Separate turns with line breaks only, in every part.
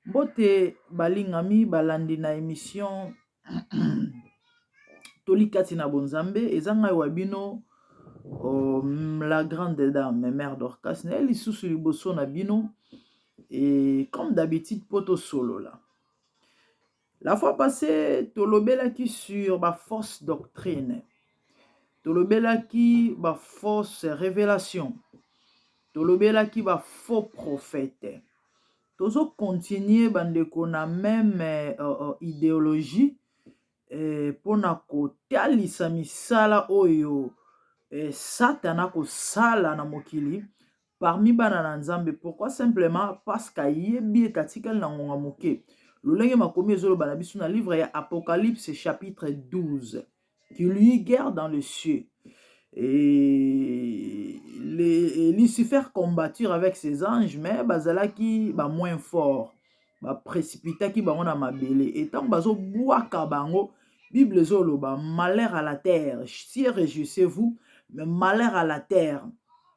Mbote balingami balandi na emission toli kati na bonzambe eza ngai wa bino la grande dame mère Dorcas naye lisusu liboso na bino et comme d'habitude po tosolola. La fois passée, tolobelaki sur ba fausses doctrines. Tolobelaki ba fausses révélations. Tolobelaki ba faux prophètes. Tozo continuer bandeko na même euh, euh, idéologie eh, mpo na kotalisa misala oyo eh, Satana kosala na mokili parmi bana na nzambe pourkoi simplement parceke ayebi ete atikali na ngonga moke lolenge makomi ezoloba na biso na livre ya apocalypse chapitre 12 qui lui guerre dans le cieux et les, lucifer combattir avec ses anges mais bazalaki ba moins fort baprécipitaki bango na mabele e ntango bazobwaka bango bible ezoloba malheur à la terre si réjouissez vous mais malheur à la terre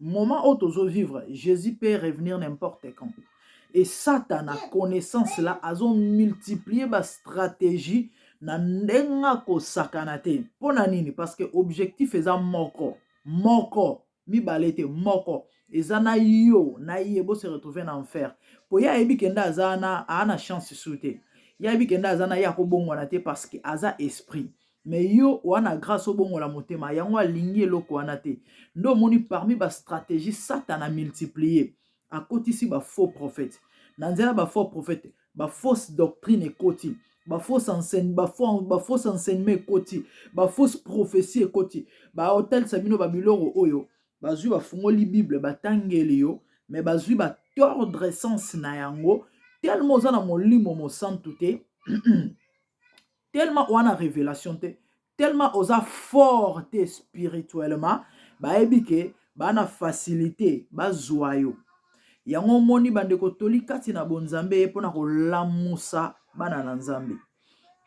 Moment oyo tozo vivre, Jesus peut revenir n'importe quand. Et Satana connaissance là azo multiplier ba stratégie na ndenge akosakana te. Mpo na nini? Parce que objectif eza moko moko mibale te moko eza na yo na ye bo se retrouver na enfer mpo ye ayebi kenda aza na aa na chance su te ye ayebi kenda aza na ye akobongwana te parce que aza esprit mais yo oa na grace obongola motema yango alingi eloko wana te nde omoni parmi ba stratégie satana multiplier akotisi ba faux prophète na nzela ba faux prophète ba fausse doctrine ekoti ba fausse enseigne ba fausse enseignement ekoti ba fausse prophétie ekoti ba otalisa bino ba biloko oyo bazwi bafungoli bible batangeli yo mais bazwi ba tordre sens na yango tellement oza na molimo mosantu te tellement wana révélation te tellement oza fort te spirituellement bayebi ke bana facilité bazwa yo yango omoni bandeko toli kati na bonzambe eye mpona kolamusa bana na nzambe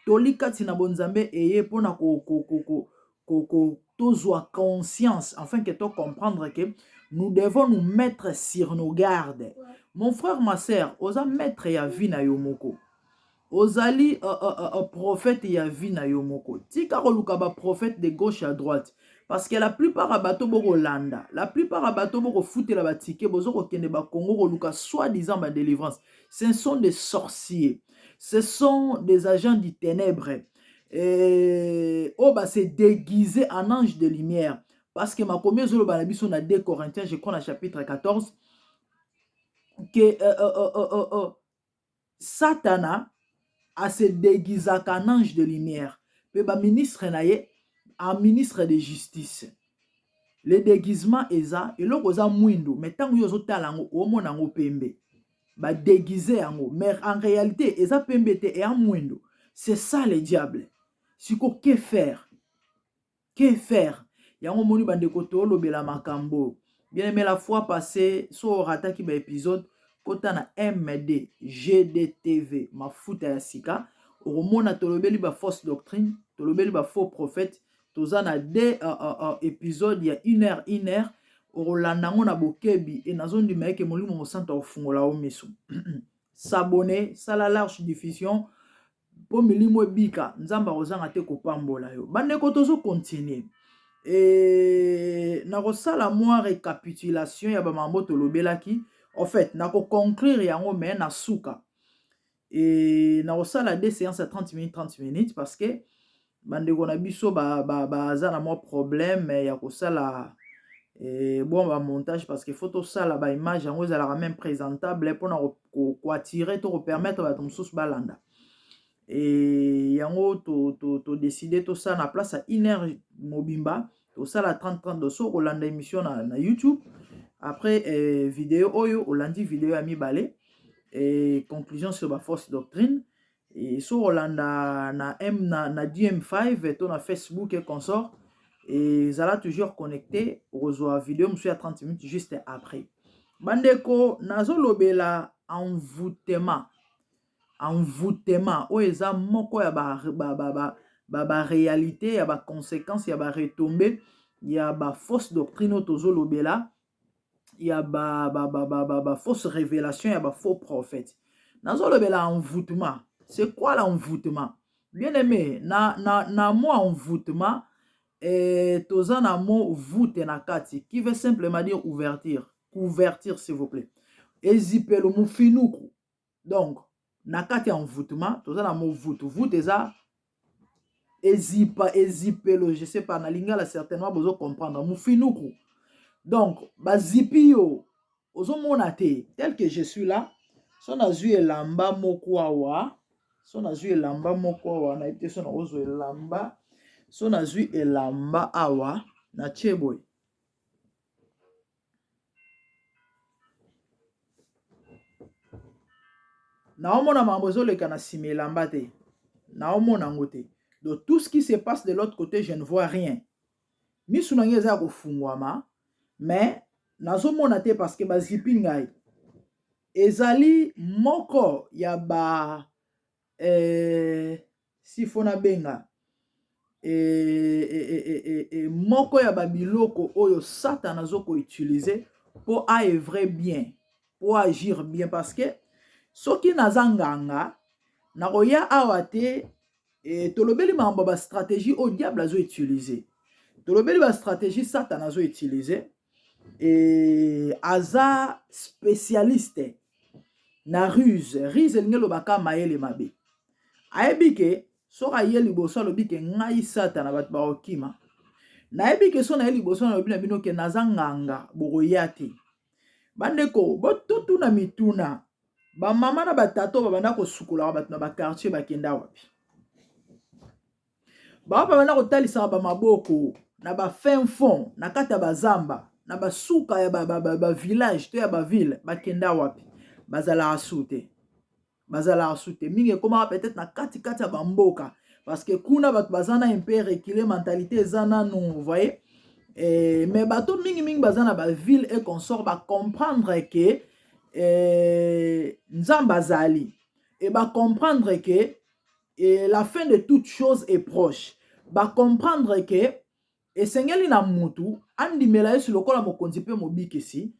toli kati na bonzambe eye mpona ko, ko, ko, ko, ko, ko, tozwa conscience afin ke to comprendre ke nous devons nous mettre sur nos gardes mon frère ma sœur oza maître ya vie na yo moko ozali uh, uh, uh, prophète ya vie na yo moko tika koluka ba prophète de gauche à droite parce que la plupart ya bato bokolanda la plupart ya bato bokofutela batike bozo kokende bakongo koluka soit disant ba délivrance ce sont des sorciers ce sont des agents du ténèbre eh, oyo oh, base déguise en ange de lumière parce que makomi ezoloba na biso na 2 corinthiens je crois na chapitre 14 que euh, euh, euh, euh, euh, euh Satana a se deguisaka en ange de lumière mpe ba ministres na ye en ministres de justice. Le deguisement eza eloko eza muindu mais tango yo ozo tala yango omona yango pembe. Ba deguiser yango mais en realite eza pembe te ea muindu. C'est ça le diable. Sikoyo que faire? que faire yango omoni bandeko tolobela makambo oyo bien aimé la fois passé so orataki baepisode kota na md gdtv mafuta ya sika okomona tolobeli bafausse doctrine tolobeli bafaux prophète toza na de uh, uh, uh, episode ya une heure une heure okolanda yango na bokebi e nazondima eke molimo mosantu akofungola yo miso sabone sala large diffusion mpo milimo ebika nzambe akozanga te kopambola yo bandeko tozo continue e, nakosala mwa recapitulation ya bamambo tolobelaki en fait nakoconclure yango me na suka e, nakosala de séance ya 30 minutes 30 minutes parce que bandeko na biso baza ba, ba, na mwa problème ya kosala eh, bon ba montage parce que faut tosala ba image yango ezalaka même présentable eh, mpona koatire to kopermettre bato mosusu balanda e yango todeside to, to tosala na place ya une heure mobimba tosala 30 30 do so kolanda émission na, na youtube après eh, video oyo olandi video ya mibale eh, conclusion sur baforce doctrine Et so olanda na M na, na DM5 to na Facebook et consort et zala toujours connecté okozwa video mosusu ya 30 minutes juste après. Bandeko nazolobela envoûtement envoûtement oyo eza moko ya ba, ba, ba, ba, ba, ba réalité ya ba conséquences ya ba retombées ya ba fausses doctrines oyo tozolobela ya ba, ba, ba, ba, ba, ba fausse révélation ya ba faux prophète nazolobela envoûtement c'est quoi l'envoûtement bien aimé na, na, na mot envoûtement eh, toza na mot voûte na kati qui veut simplement dire ouverture couverture s'il vous plaît ezipelo mofinuku donc na kati ya envoûtement toza na movutu vutu eza ezipa ezipelo je sais pas na lingala certainement bozo comprendre mofinuku donc bazipi yo ozomona te tel que je suis là so nazwi elamba moko awa so nazwi elamba moko awa nayebi te so nakozwa elamba so nazwi elamba awa na tie boye naomona makambo ezoleka na nsima elamba te naomona yango te do tout ce qui se passe de l'autre côté je ne vois rien misu na ngai eza ya kofungwama mais nazomona te parce que bazipi ngai ezali moko ya ba eh, si fo nabenga eh, eh, eh, eh, eh, eh, moko ya babiloko oyo satana azo koutilize mpo aevre bien mpo agir bien parce que soki naza nganga nakoya awa te e, tolobeli makambo ya bastratégie oyo diable azo utilize tolobeli bastratégie satana azo utilize et aza specialiste na ruse ruse elingi elobaka mayele mabe ayebi ke soki aye liboso alobi ke ngai satana bato bakokima nayebi ke so naye liboso nalobi na bino ke naza nganga bokoya te bandeko bototuna mituna bamama na batata oyo babanda kosukolaka bato na bakartier bakenda wapi Ba papa na kotalisaka ba maboko na ba fin fond na kati ya bazamba na basuka ya ba, ba, ba, ba village to ya ba ville bakenda wapi bazalaka su te bazalaka su te mingi ekomaka peut-être na kati kati ya bamboka parce que kuna bato baza na mpe recule mentalité eza nanu voye eh, mais bato mingi mingi baza na baville e consort bacomprendre ke eh, nzambe azali e bacomprendre ke et la fin de toute chose est proche ba comprendre que esengeli na mutu andimela yesu lokola mokonzi mpe mobikisi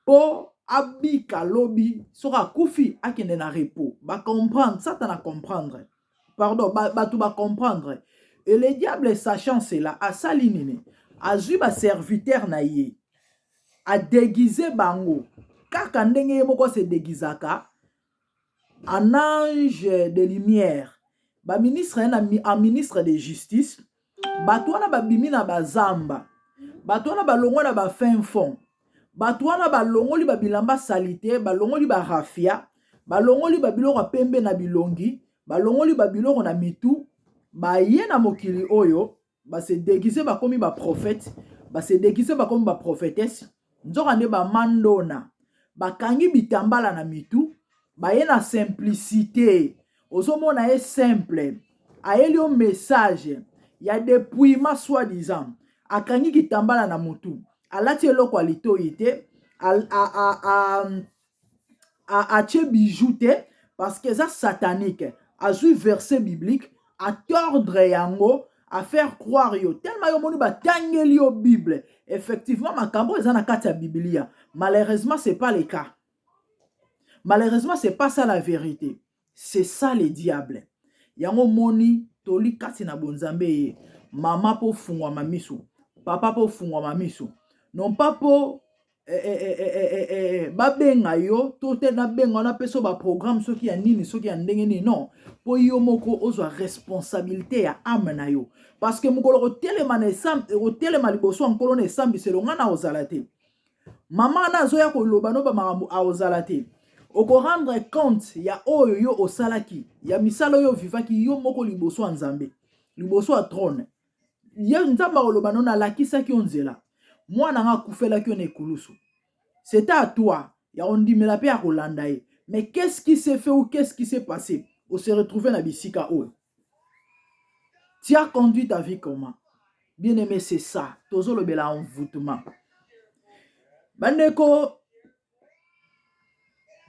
mpo abika lobi soki akufi akende na repos ba comprendre satana comprendre pardon bato ba comprendre et le diable sachant cela asali nini azwi baserviteur na ye adegize bango kaka ndenge ye moko asedegizaka En ange de lumière ba ministre naye na en ministre de justice batu wana babimi na bazamba batu wana balongwa na ba fin fond batu wana balongoli ba bilamba salite balongoli ba rafia balongoli ba biloko ya pembe na bilongi balongoli ba biloko na mitu baye na mokili oyo ba se deguise bakomi ba prophète ba se deguise bakomi ba prophetesse nzoka nde ba mandona bakangi bitambala na mitu baye na simplicité ozomona ye simple ayeli yo message ya depouillement soit disant akangi kitambala na mutu alati eloko ya litoyi te atie bijou te parce que eza satanique azui verset biblique a tordre yango a faire croire yo tellement yo moni batangeli yo bible effectivement makambo eza na kati ya biblia malheureusement c'est pas le cas malheureusement c'est pas ça la vérité C'est ça le diable. Yango moni toli kati na bonzambe ye. Mama po fungwa mamisu. Papa po fungwa mamisu. Non pas po eh, eh, eh, eh, eh, eh, eh, eh babenga yo to te nabenga wana mpe so baprogramme soki ya nini soki ya ndenge nini non mpo yo moko ozwa responsabilité ya ame na yo parce que mokolo kotelema na okotelema liboso ya nkolo na esambiselo ngai na ozala te mama wana azoya koloba no bamakambo aozala te okorendre compte ya oyo yo osalaki ya misala oyo ovivaki yo moko liboso ya nzambe liboso ya trone ye nzambe akoloba no nalakisaki yo nzela mwana nga akufelaki yo na ekulusu c'est à toi ya kondimela mpe ya kolanda ye mais qu'est-ce qui s'est fait ou qu'est-ce qui s'est passé ose retrouve na bisika oyo Tu as conduit ta vie comment? Bien aime c'est ça. Tozo lobela envoûtement. Bandeko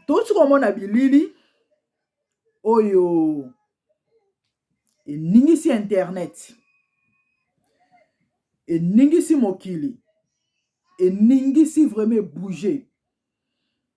touti komona bilili oyo eningisi internet eningisi mokili eningisi vraiment ebouge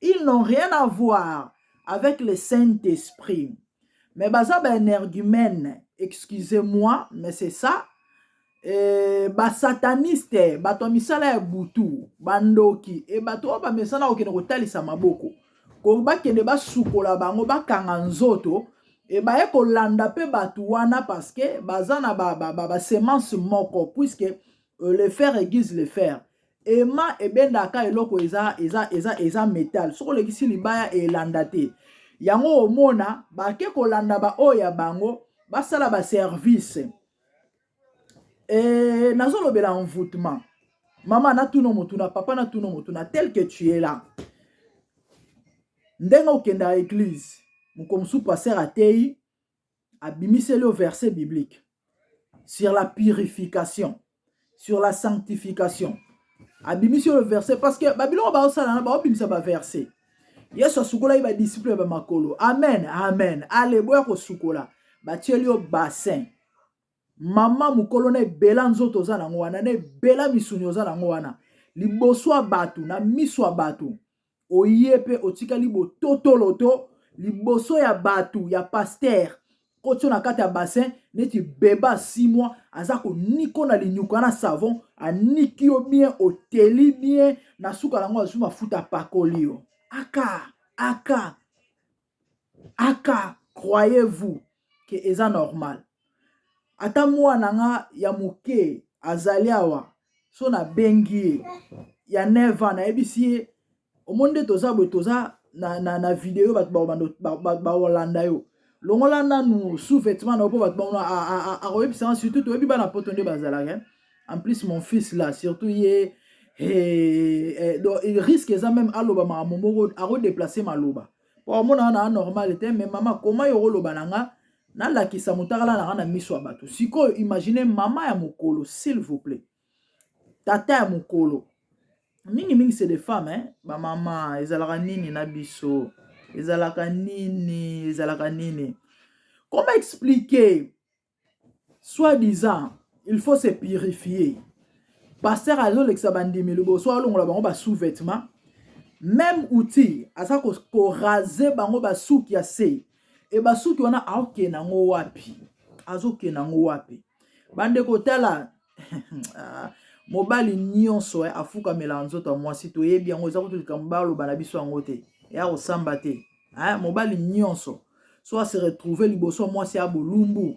ils n'ont rien à voir avec le saint esprit mais baza ba energumène excusez moi mais c'est ça Eh, basataniste bato ya misala ya butu bandoki e bato oyo bamesana kokende kotalisa maboko ko bakende basukola bango bakanga nzoto e baye kolanda mpe bato wana parceke baza na basemence ba, ba, ba moko puiske euh, le fer aiguise le fer Ema ebendaka eloko eza eza eza eza metal soki olekisi libaya elanda te yango omona bake kolanda baoyo ya bango basala baservice e, nazolobela envoutement mama natuna motuna papa natuna motuna tel que tu es là ndenge okenda eglise moko mosusu paster ateyi abimiseli yo verset biblique sur la purification sur la sanctification abimisi oyo verset parce que babiloko baosala na baobimisa baverset yesu asukolaki badisiple ya bamakolo amen amen ale boya kosukola batieli yo bassin Maman mukolo na ebela nzoto oza nango wana na ebela misuni oza nango wana liboso ya batu na miso ya batu oye pe otikali bototoloto liboso ya batu ya pasteur kotio na kati ya bassin neti beba 6 mois aza koniko na linyuka na savon aniki yo bien oteli bien na suka nango azwi mafuta apakoli yo aka aka Aka croyez vous que eza normal? Ata mwana nga ya moke azali awa so na bengi ye ya 9 ans nayebisi ye omoni nde toza boye toza na, na, na video bato bakolanda yo longola nanu sous-vêtement na yo mpo bato bakoyebisa nga surtout toyebi bana poto nde bazalaka en plus mon fils là surtout ye eh, eh, donc risque eza même aloba makambo moko akodeplace maloba mpo amona wana anormal te mais mama koma yo okoloba na nga nalakisa motakala na nga na miso ya bato sikoyo imagine mama ya mokolo s'il vous plaît tata ya mokolo mingimingi c'est des femmes hein? bamama ezalaka nini na biso ezalaka nini ezalaka nini koma explike Soit disant il faut se purifier. Pasteur azolekisa bandimi liboso alongola bango ba sous-vêtements. Même outil aza ko, ko raser bango ba suki ya se. E ba suki wana aokenda ngo wapi? Azokenda ngo wapi? Bandeko tala ah, mobali nyonso eh, afukamelaka nzoto ya mwasi toyebi yango eza kutu likambo baloba na biso yango te ya kosamba te eh, mobali nyonso so ase retrouve liboso ya mwasi ya bolumbu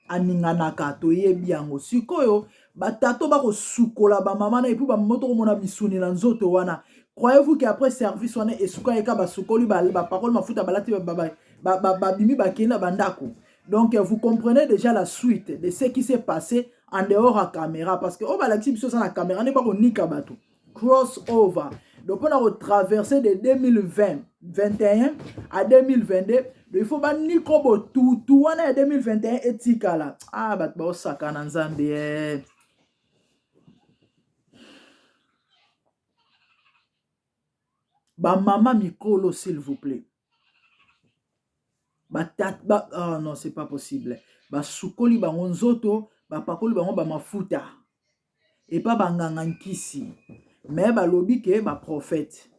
aninganaka toyebi yango sikoyo batato bakosukola bamama na epui bamama tokomona misuni na nzoto wana croyez-vous que après service wana esukaki ka basukoli bapakoli mafuta balati babimi bakei na bandako Donc vous comprenez déjà la suite de ce qui s'est passé en dehors à caméra parce que au oh, balakisi biso ça na caméra ne pas ko nika bato cross over donc on a traversé de 2020 21 à 2022 donc il faut ba niko bo tout tout wana ya 2021 etikala ah bato bao sakana nzambe eh. bamama mikolo s'il vous plaît basukoli bango nzoto bapakoli bango ba mafuta epa banganga nkisi me balobi ke ba profete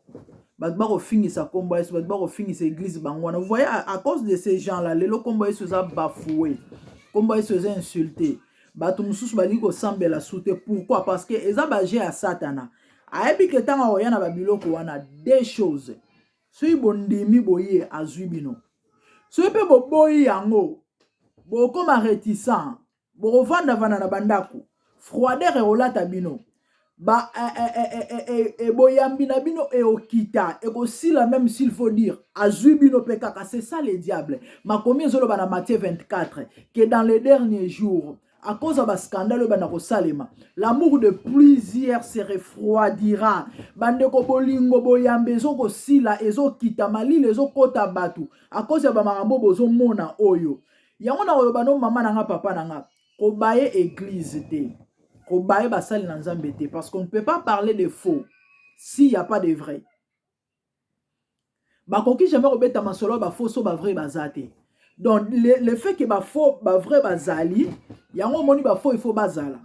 bato bakofingisa nkombo yesu bato bakofingisa eglize bango wana voi a cause de se jean la lelo nkombo yesu eza bafoue nkombo yesu eza insulte bato mosusu balingi kosambela su te pourkui parce que eza baje ya satana ayebi ke ntango akoya na babiloko wana de choses Soki bondimi boye azwi bino, soki mpe boboyi yango, bokoma reticent, bokovandavanda na bandako, froideur ekolata bino ba eh, eh, eh, eh, eh, eh, eh, boyambi na bino eokita ekosila meme s'il faut dire azwi bino mpe kaka c'est ça le diable makomi ezoloba na matthieu 24 que dans les derniers jours à cause ya bascandale oyo banda kosalema l'amour de plusieurs se refroidira bandeko bolingo boyambe ezokosila ezokita malili ezokota bato à cause ya bamakambo bozomona oyo yango na koloba no mama na nga papa na nga kobaye eglise te kobaye basali na nzambe te parce qu'on ne peut pas parler de faux s'il n'y a pas de vrai bakoki jamais kobeta masolo ya bafo so bavrai baza te donc le, le fait ke bafo bavrai bazali yango omoni bafo ifo bazala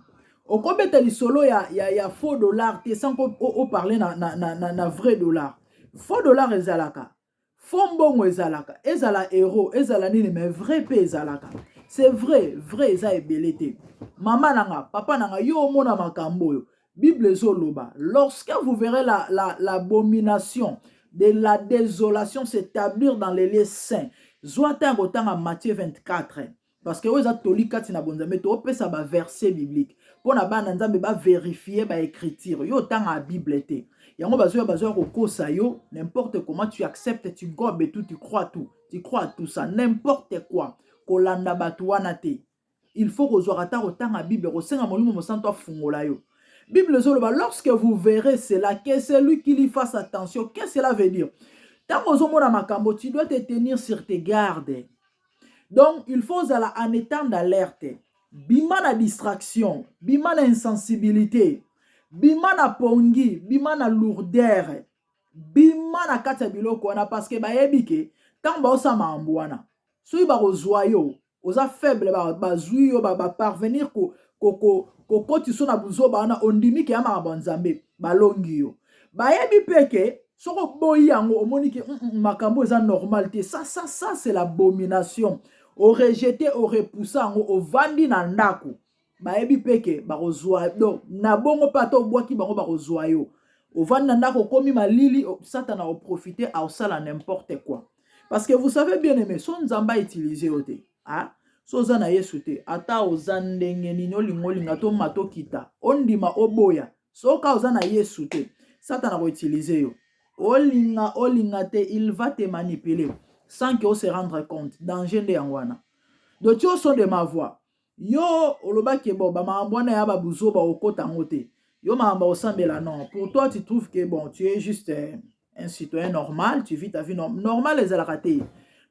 okobeta lisolo ya, ya, ya faux dollar te sans oparle na, na, na, na, na vrai dollar faux dollar ezalaka faux mbongo ezalaka ezala euro ezala nini mais vrai mpe ezalaka c'est vrai vrai eza ebele te mama na nga papa na nga yo omona makambo oyo Bible ezoloba lorsque vous verrez la, la, la abomination de la désolation s'établir dans les lieux saints zwa ata ya kotanga Matthieu 24 parce que oyo eza toli kati na bonzambe toopesa baverset biblique mpo na bana nzambe baverifie baécriture yo otanga bible te yango bazoya bazoya kokosa yo n'importe comment tu acceptes tu gobe tout tu crois tout tu crois tout ça n'importe quoi kolanda bato wana te il faut kozwaka ata kotanga bible kosenga molimo mosantu afungola yo bible ezoloba lorsque vous verrez cela que celui qui lit fasse attention que cela veut dire ntango ozomona makambo tu dois te tenir sur tes gardes donc il faut ozala en étant d'alerte bima na distraction bima na insensibilité bima na pongi bima na lourdere bima na kati ya biloko wana parceke bayebi ke ntango baosala makambo wana soki bakozwa yo oza faible bazwi yo baparvenir kokotisa yo na buzoba wana ondimi ke ya makambo ya nzambe balongi yo bayebi mpe ke soki oboyi yango omoni ke mm, mm, makambo eza normal te ça ça ça c'est l'abomination orejete orepousa yango ovandi na ndako bayebi mpe ke bakozwa donc na bongo mpe ata obwaki bango bakozwa yo ovandi na ndako okomi malili satana oprofite aosala n'importe quoi parce que vous savez bien aimé so nzambe autilize yo te ah? so oza na yesu te ata oza ndenge nini olinga olinga toma tokita ondima oboya soka oza na yesu te satana akoutilize yo olinga olinga te il va te manipuler sans que o se rendre compte danger nde yango wana de tioso de ma voix yo oloba ke bon ba makambo wana ya ba buzoba okota yango te yo makambo osambela non pour toi tu trouves que bon tu es juste euh, un citoyen normal tu vis ta vie norm normal ezalaka te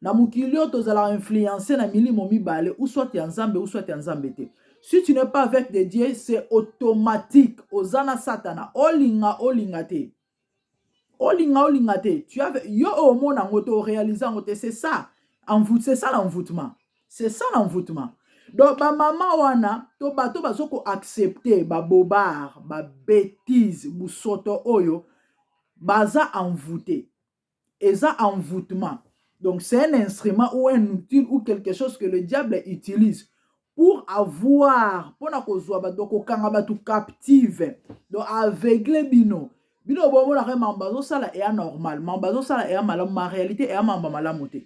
na mokili oyo tozalaka influence na milimo mibale ou soit ya nzambe ou soit ya nzambe te si tu n'es pas avec de dieu c'est automatique oza na satana olinga olinga te olinga olinga te tu as yo omona ngo to réaliser ngo te c'est ça envoute c'est ça l'envoûtement c'est ça l'envoûtement donc ba maman wana to bato bazo ko accepter ba bobard ba bêtise busoto oyo baza envoûter eza envoûtement donc c'est un instrument ou un outil ou quelque chose que le diable utilise pour avoir mpona kozwa bato donc kokanga bato captive donc aveugle bino bino bomonaka mambo bazosala eya normal mambo bazosala eya malamu ma réalité eya mambo malamu te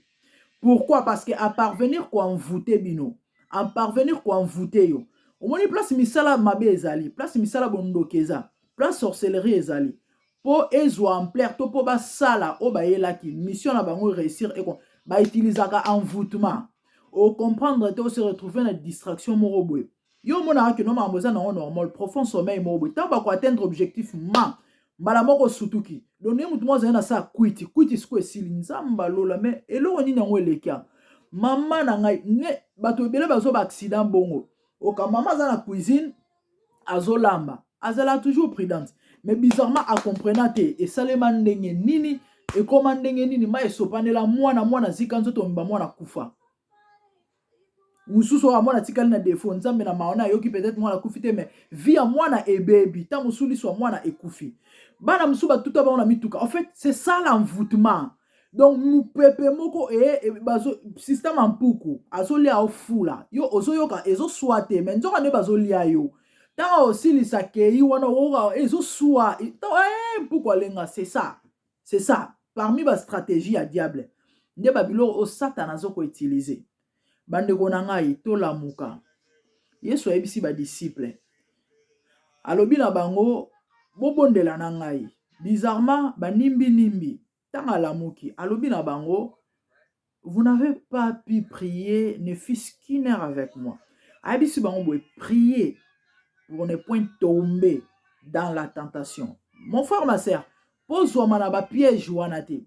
pourquoi parce que aparvenir koenvoute bino aparvenir koenvoute yo omoni place misala mabe ezali place misala bondoki eza place sorcellerie ezali po ezua ampleur to po basala oyo bayelaki mission na bango réussir eko ba utilisaka envoûtement o comprendre te o se retrouver na distraction moko boye yo omonaka kino makambo eza nango normal profond sommeil moko boye ntango bako atteindre objectif ma mbala moko osutuki donc ye motu moko azali na saa kwiti kwiti siko esili nzambe alola me eloko nini yango elekia mama na ngai ne bato ebele bazoba accident bongo oka mama aza na cuisine azolamba azala toujours prudente mais bizarrement acomprena te esalema ndenge nini ekoma ndenge nini mai esopanela mwana mwana zika nzoto omimba mwana kufa mosusu oyo mwana atikali na defo nzambe na maona ayoki peut-être mwana akufi te mais vie ya mwana ebebi ntango mosusu liso ya mwana ekufi bana mosusu batuta bango na mituka en fait c'est ça l'envoûtement donc mupepe moko e, e, bazo sista mampuku azolia ofula yo ozoyoka ezoswa te me nzoka nde bazolia yo ntango osilisa kei wana okoka ezoswa e, e, mpuku alenga c'est ça c'est ça parmi bastratégie ya diable nde babiloko oyo satana azokoutilize Bandeko na ngai, tolamuka. Yesu ayebisi badisiple, alobi na bango, bobondela na ngai. Bizarrement, banimbi-nimbi. Ntango alamuki, alobi na bango, vous n'avez pas pu prier ne fût-ce qu'une heure avec moi. Ayebisi bango boye, prier pour ne point tomber dans la tentation. Mon frère, ma sœur, Po zuama na ba piège wana te.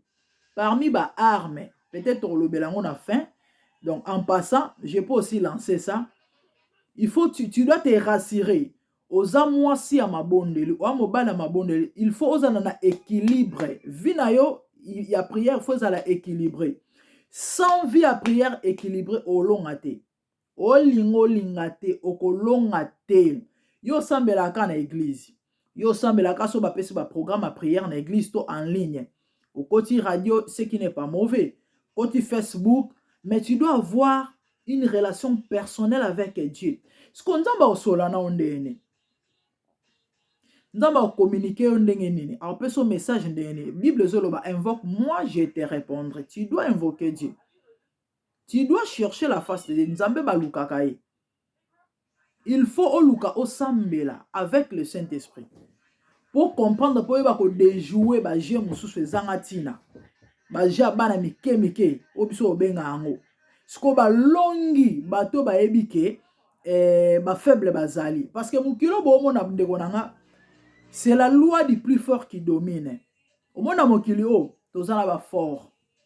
Parmi ba armes, peut-être tokolobela yango na fin. Donc en passant, je peux aussi lancer ça. Il faut tu, tu dois te rassurer. Oza mwasi ya mabondeli, oza mobali ya mabondeli, il faut ozala na équilibre. Vie na yo ya prière faut ezala équilibré. Sans vie ya prière équilibrée olonga te. Olinga olinga te okolonga te yo osambela ka na eglise yo osambela ka so bapesi ba programme ya prière na eglise to en ligne okoti radio ce qui n'est pas mauvais koti facebook mais tu dois avoir une relation personnelle avec Dieu siko nzambe akosola na yo ndenge nini nzambe akokominike yo ndenge nini akopesa yo message ndenge nini bible ezoloba invoque moi je te répondre tu dois invoquer Dieu tu dois chercher la face de Dieu nzambe balukaka ye il faut oluka osambela avec le saint esprit po comprendre po oyeba ko dejouer ba jeu mosusu ezanga ntina ba jeu ya bana mike mike oyo biso obenga yango sikoyo balongi bato bayebi ke eh, bafaible bazali parce que mokili boomona ndeko na nga c'est la loi du plus fort qui domine omona mokili oyo toza na bafort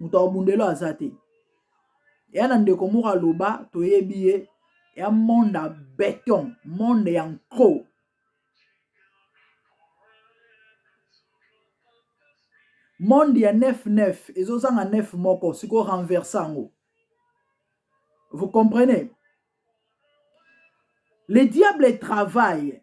moto akobunda elo aza te ya na ndeko moko aloba toyebi ye ya monde ya beton monde ya nko monde ya 99 ezozanga 9 moko sikoyo renverse yango vous comprenez le diable travaille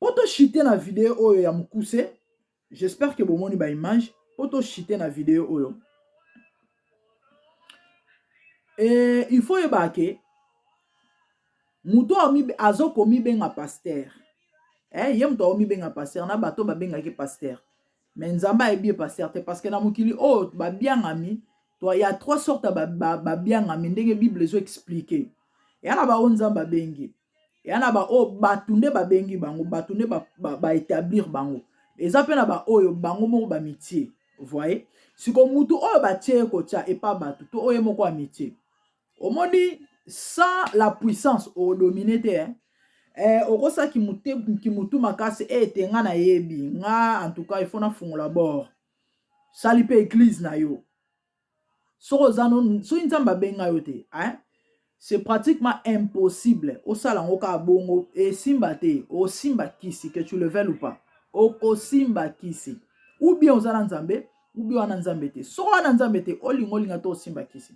po to chute na video oyo ya mukuse j'espère que bomoni ba image po to chute na video oyo e, il faut yeba ke moto azokomibenga paster eh, ye moto akomibenga paster na bato babengaki paster me nzambe ayebi ye paster te parce que na mokili oyo oh, babiangami ya trois sorte babiangami ba, ba ndenge bible ezoexplike eya na baoyo nzambe abengi eya na baoyo bato nde babengi bango bato nde baetablir ba, ba bango eza mpe na baoyo bango moko bamitie voye siko motu oyo batie ye kotya epa bato to oyo ye moko amitie omoni sans la puissance odomine te eh? eh, okosa kimutu makasi e eh, te nga nayebi nga en tout cas ifo nafungola bord sali mpe eglize na yo soki oza no soki nzambe abenga yo te hein? c'est pratiquement impossible osala yango kaka bongo esimba te osimba kisi que tu le veuilles ou pas okosimba kisi ou bien oza na nzambe ou bien wana nzambe te soki wana nzambe te olinga olinga to osimba kisi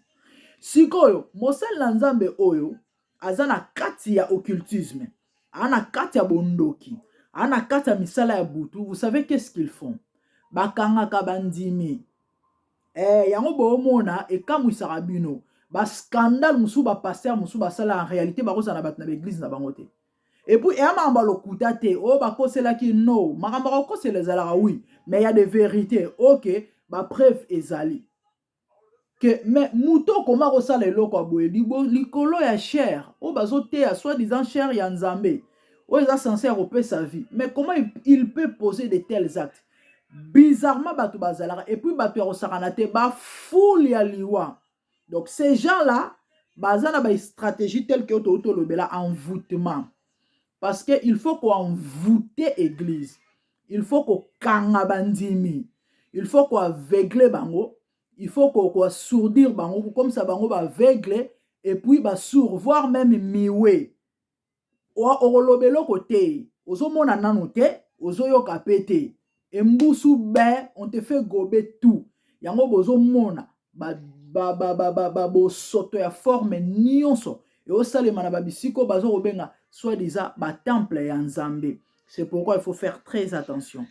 sikoyo mosali na nzambe oyo aza na kati ya occultisme aza na kati ya bondoki aza na kati ya misala ya butu vous savez qu'est-ce qu'ils font bakangaka bandimi Ee, yango boomona ekamwisaka bino. Bascandale mosusu bapastere mosusu basala en realite bakozala na bato na baeglize na bango te. Epuis eya makambo ya lokuta te oyo oh, bakoselaki no makambo ya kokosela ezalaka wi mais ya de verite oke oh, bapreuve ezali ke me moto okoma kosala eloko ya boye likolo ya chere oyo oh, bazoteya soit disant chere ya nzambe oyo eza sense ya kopesa vie mais comment il peut poser de tels actes bizarrement bato bazalaka epuis bato ya kosakana te bafoule ya liwa donc ces gens là baza na bastratégie tel que touti olobela envoûtement parce que il faut koenvoute église il faut kokanga bandimi il faut koaveugle bango il faut koassourdir bango kokomisa bango baaveugle epuis basour voire meme miwe okoloba eloko te ozomona nano te ozoyoka mpe te embusu be on te fait gobe tout yango bozomona babosoto ya forme nyonso eosalema na babisika oyo baza kobenga soit disant batemple ya nzambe c'est pourquoi il faut faire très attention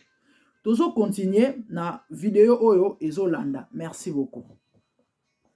tozokontinue na video oyo ezolanda merci beaucoup